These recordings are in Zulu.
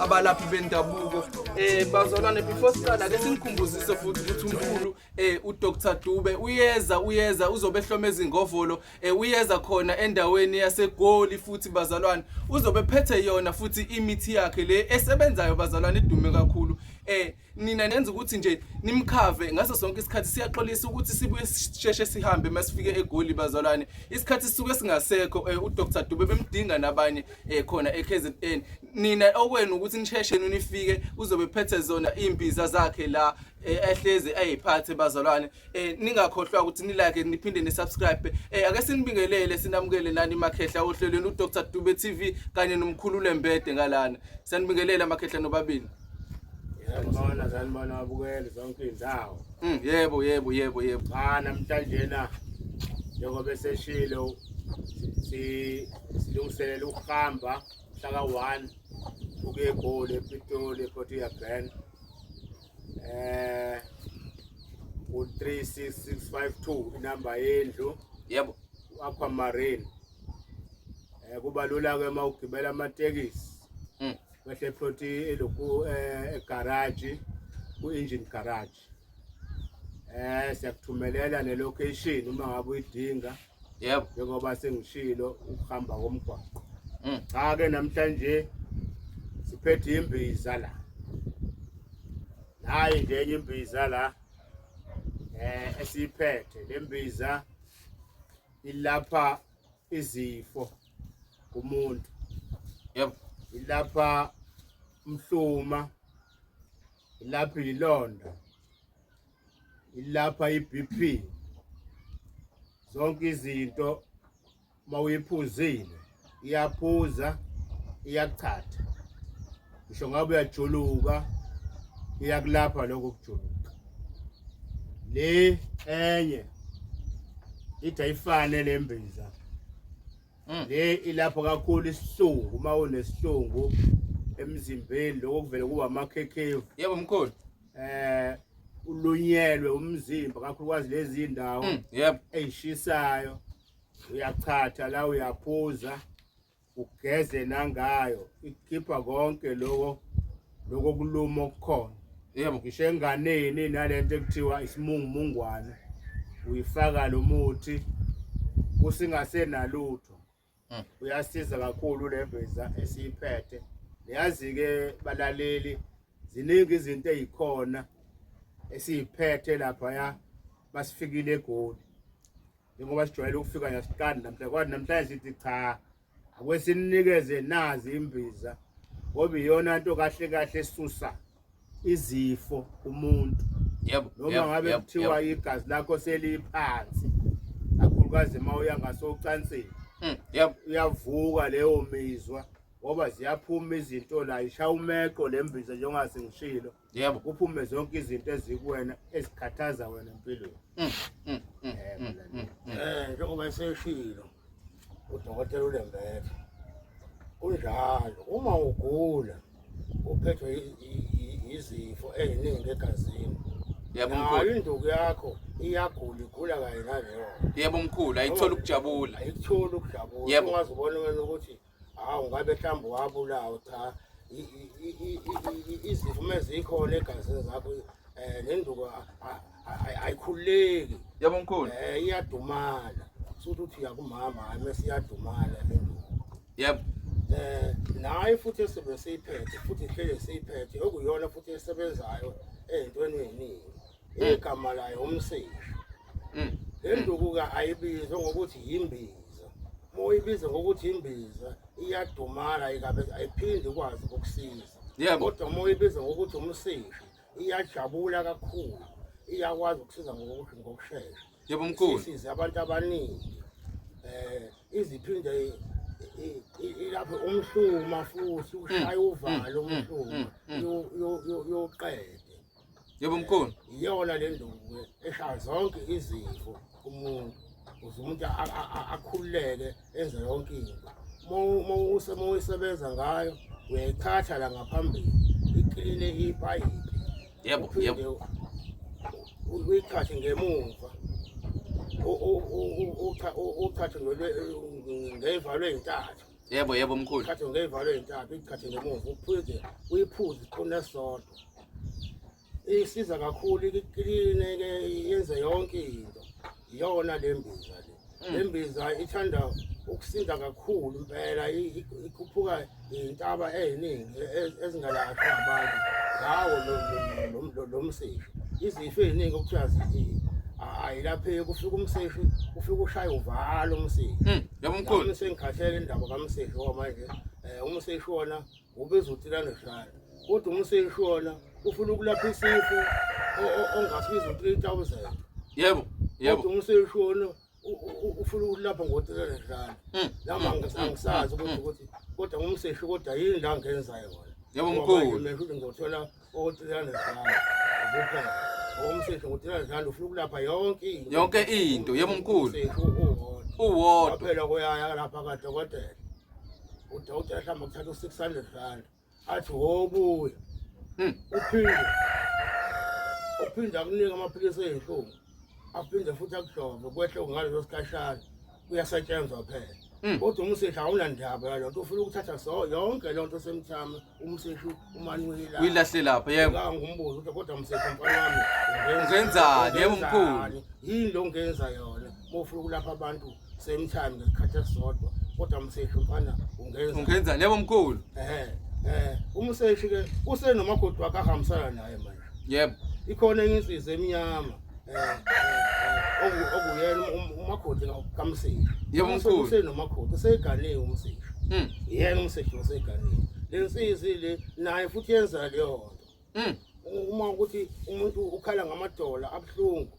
abalaphi bendabuko eh bazalwane before siqala ke sinikhumbuzise futhi ukuthi umkhulu eh uDr Dube uyeza uyeza uzobe hloma ezingovolo eh uyeza khona endaweni yaseGoli futhi bazalwane uzobe phethe yona futhi imithi yakhe le esebenzayo bazalwane idume kakhulu eh nina nenza ukuthi nje nimkhave ngaso sonke isikhathi siyaxolisa ukuthi sibuye sisheshe sihambe masifike egoli bazalwane isikhathi sisuke singasekho eh, uDr Dube bemdinga nabanye eh, khona eKZN nina okwenu ukuthi nisheshe nifike uzobe phethe zona imbiza zakhe la eh, ehlezi ayiphathe bazalwane ningakhohlwa ukuthi nilike niphinde nisubscribe ake sinibingelele sinamukele nani makhehla ohlelweni uDr Dube TV kanye nomkhulu lembede ngalana sanibingelela makhehla nobabili Sanibona, sanibona abukeli zonke iy'ndawo. Mm, yebo, yebo, yebo, yebo. Cha namhlanjena njengoba eseshilo si- silungiselela ukuhamba mhlaka one ukuye egoli epitoli eprotea brand eh u-three six six five two inamba yendlu Yebo. u-aquamarine um kuba lula-ke uma ugibela amatekisi kwehle ploti eloku eh, egaraji ku-engine garage eh siyakuthumelela nelocation uma ngabe uyidinga yebo njengoba sengishilo ukuhamba komgwaqo mm. cha ke namhlanje siphethe imbiza la nayi nje enye imbiza la eh esiyiphethe lembiza ilapha izifo kumuntu yebo ilapha umhluma ilapha ilonda ilapha iBP zonke izinto mawuyiphuzile iyaphuza iyachatha ngisho ngabe uyajuluka iyakulapha lokho kujuluka le enye ithi ayifane le mbiza mm. le ilapho kakhulu isihlungu uma unesihlungu emzimbeni lokho kuvele kuba amakhekhevu yebo mkhulu eh ulunyelwe umzimba kakhulukazi lezi ndawo mm, yebo eyishisayo uyachatha la uyaphuza ugeze nangayo ikhipha konke loko loko kuluma okukhona yebo ngisho enganeni nalento ekuthiwa isimungumungwane uyifaka lo muthi kusingasenalutho hmm. uyasiza kakhulu le mbiza esiyiphethe niyazi-ke balaleli ziningi izinto ezikhona esiyiphethe laphaya basifikile egoli njengoba sijwayele ukufika yasikani namhlanje kwathi namhlanje sithi cha akwesinikeze nazi imbiza ngoba iyona nto kahle kahle esusa izifo umuntu yebo noma ngabe kuthiwa igazi lakho seliphansi kakhulukazi uma uya ngasocansini hmm, yebo uyavuka leyo mizwa ngoba ziyaphuma izinto la ishaya umeqo le mbiza njengoba sengishilo yebo uphume zonke izinto ezikuwena ezikhathaza wena empilweni mm, mm, mm, eh njengoba eseshilo udokotela ulembethe kunjalo uma ugula uphethwe izifo eziningi egazini yebo mkhulu induku yakho iyagula igula kanye naleyo yebo mkhulu ayithola ukujabula ayithola ukujabula ungazi ubona wena ukuthi hawu ngabe mhlawumbe wabulawa cha izivume zikhona egazini zakho um nenduku ayikhululeki yabo mkhulu um eh, iyadumala suthi uthi uyakumama hayi mese iyadumala nenduku yebo eh naye futhi esibe seyiphethe futhi ihlele seyiphethe okuyona futhi esebenzayo ezintweni eziningi mm. igama layo umsisho mm. le nduku-ke ayibizwe ngokuthi yimbiza uma uyibize ngokuthi yimbiza iyadumala ayiphindi ikwazi ukusiza yebo kodwa uma uyibize ngokuthi umsisho iyajabula kakhulu iyakwazi ukusiza ngokuthi ngokushesha yebo mkhulu sisize abantu abaningi eh iziphinde ilapho umhluma futhi ushaya mm, uvalo mm, umhluma mm, yoqede Yebo mkhulu. Iyona le nduku eshaya zonke izifo umuntu. Uze umuntu akhululeke enze yonke into. Uma usema uyisebenza ngayo uyayithatha la ngaphambili ikline ipayipi. Yebo, yebo. Uyithathe ngemuva. Uthathe ngevalo ezintathu. Yebo yebo mkhulu. Khathi ngeyivalo ezintathu ikhathi ngemuva uphuze uyiphuze iqine sodwa. Isiza kakhulu ikline ke yenze yonke into. Iyona lembiza le. Mm. Lembiza ithanda ukusinda kakhulu impela ikhuphuka intaba eziningi e, ezingalashwa abantu. Ngawo lo lo msisi. Izifo eziningi okuthiwa zithi ayilapheki ufika umseshi ufika ushaya uvalo umsisi. Mm. Yabo mkhulu. Uma sengikhathele indaba kaMsisho manje, eh uma seyishona ubiza utilane shaya. Kodwa uma seyishona ufuna ukulapha isifo ongasibiza u3000. Yebo. Yebo. Kodwa uma seyishona ufuna ukulapha ngo3000 shaya. Hmm. Lama hmm. ngisazi hmm. ukuthi kodwa uma seyisho kodwa yini la ngenzayo wona. Yebo mkhulu. Mina ngizothola yonke into yebo mkhulu uwodwa phela koyaya lapha kadokotela udokotela hlamba kuthatha u-600 rand athi wobuya hmm. uphinde uphinde akunika amaphilisi ey'nhlungu aphinde futhi akuhlove kwehle ngaleso sikhashana kuyasetshenzwa phela Mm. kodwa umsehla awunandaba yalo nto ufuna ukuthatha so yonke loo nto semthama umsehla umane uyilapha uyilahle lapha yebo Ngicabanga ngumbuzo ukuthi kodwa msehla mfana wami Ungenzani, yebo, mkhulu? ungenzani? yini lo ngenza yona uma ufuna ukulapha abantu same time ngesikhathi esisodwa kodwa mseshi mfana ungenza ungenza lebo mkhulu eh eh umseshi ke usenomakoti wakhe ahambisana naye manje yebo ikhona enye insizwa emnyama eh, eh, eh, okuyena um, um, umakoti kamseshi yebo mkhulu usenomakoti useganiwe umseshi hmm. yena umseshi useganiwe lensizi le naye futhi yenza leyo nto hmm. uma ukuthi umuntu ukhala ngamadola abuhlungu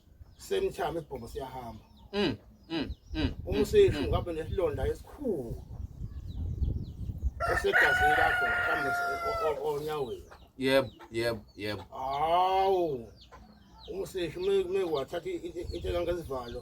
semthama isibhobo siyahamba mm mm mm umsishu mm, mm. ngabe nesilonda esikhulu esegazini lakho mhlawumbe onyaweni yebo yebo yebo hawu umsishu uma wathatha into engangezivalo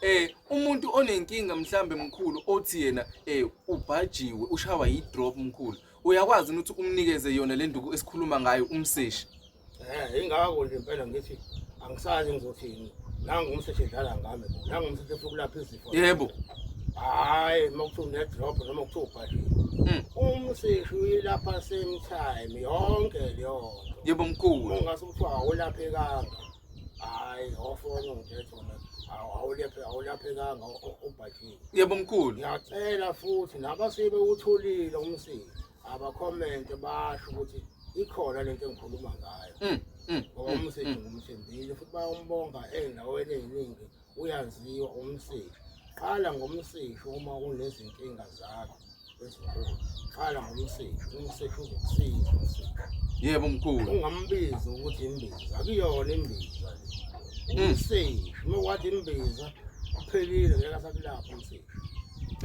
eh umuntu onenkinga mhlambe mkhulu othi yena eh ubhajiwe ushawa yi drop mkhulu uyakwazi ukuthi umnikeze yona le nduku esikhuluma ngayo umseshi eh ingakho nje impela ngithi angisazi ngizothini nangu umseshi edlala ngami nangu umseshi efukulapha izifo yebo hayi uma kuthiwa unedrop noma kuthiwa ubhajiwe hmm. umseshi uyilapha same time yonke leyo yebo mkhulu ungase kuthiwa awulaphekanga hayi awufoni ngithethe wena awulephe awulaphekanga ubhajile yebo mkhulu ngiyacela futhi nabasibe utholile umsiki abakhomente basho ukuthi ikhona lento engikhuluma ngayo mm, mm, ngoba mm, umsiki ngumthembile futhi bayombonga endaweni eziningi uyaziwa umsishi qala ngomsishi uma unezinkinga zakho ezinkulu qala ngomsishi umsishi uzokusiza umsishi yebo mkhulu ungambizi ukuthi imbiza akuyona imbiza le umsishi uma wathi imbiza uphelile ngeke asakulapha umsishi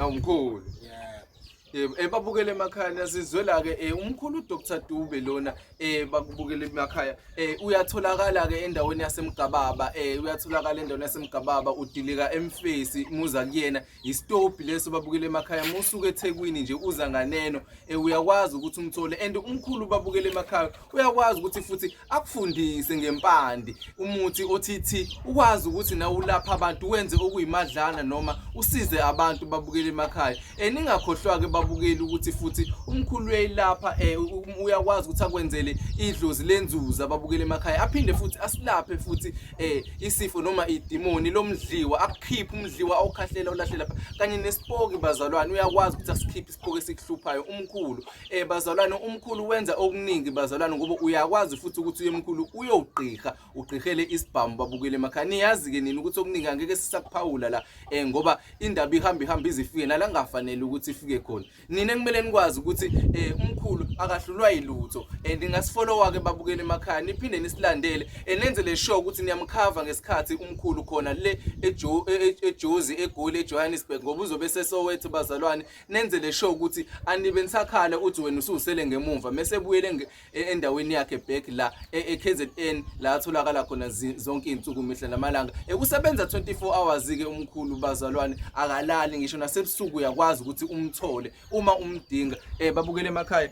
awu mkhulu yebo Yebo, eh babukele emakhaya niyazizwela ke eh umkhulu uDr Dube lona eh bakubukele emakhaya eh uyatholakala ke endaweni yasemgababa eh uyatholakala endaweni yasemgababa udilika emfesi muza kuyena istophi leso babukele emakhaya musuke eThekwini nje uza nganeno eh uyakwazi ukuthi umthole and umkhulu babukele emakhaya uyakwazi ukuthi futhi akufundise ngempande umuthi othithi ukwazi ukuthi nawe ulapha abantu wenze okuyimadlana noma usize abantu babukele emakhaya eh ningakhohlwa-ke babukeli ukuthi futhi umkhulu uyayilapha eh um, uyakwazi ukuthi akwenzele idlozi lenzuza babukele emakhaya aphinde futhi asilaphe futhi eh isifo noma idimoni lomdliwa akukhiphe umdliwa awukhahlela ulahlela kanye nesipoki bazalwane uyakwazi ukuthi asikhiphe isiphuko esikuhluphayo umkhulu eh bazalwane umkhulu wenza okuningi bazalwane ngoba uyakwazi futhi ukuthi uyemkhulu uyogqigha ugqihele isibhamu babukele emakhaya niyazi ke nini ukuthi okuningi angeke sisakuphawula la eh ngoba indaba ihamba ihamba izifike nala ngafanele ukuthi ifike khona nina kumele nikwazi ukuthi eh umkhulu akahlulwa yilutho and eh, ngasifollowa ke babukele emakhaya niphinde nisilandele enenze le show ukuthi niyamkhava ngesikhathi umkhulu khona le e, e, ejozi egoli ejohannesburg ngoba uzobe sesowethu bazalwane nenze le show ukuthi anibe nisakhale uthi wena ususele ngemumva mese ebuyele e, endaweni yakhe back la ekzn la atholakala khona zonke iy'nsuku mihla namalanga ekusebenza 24 hours-ke umkhulu bazalwane akalali ngisho nasebusuku uyakwazi ukuthi umthole uma umdinga um babukele emakhaya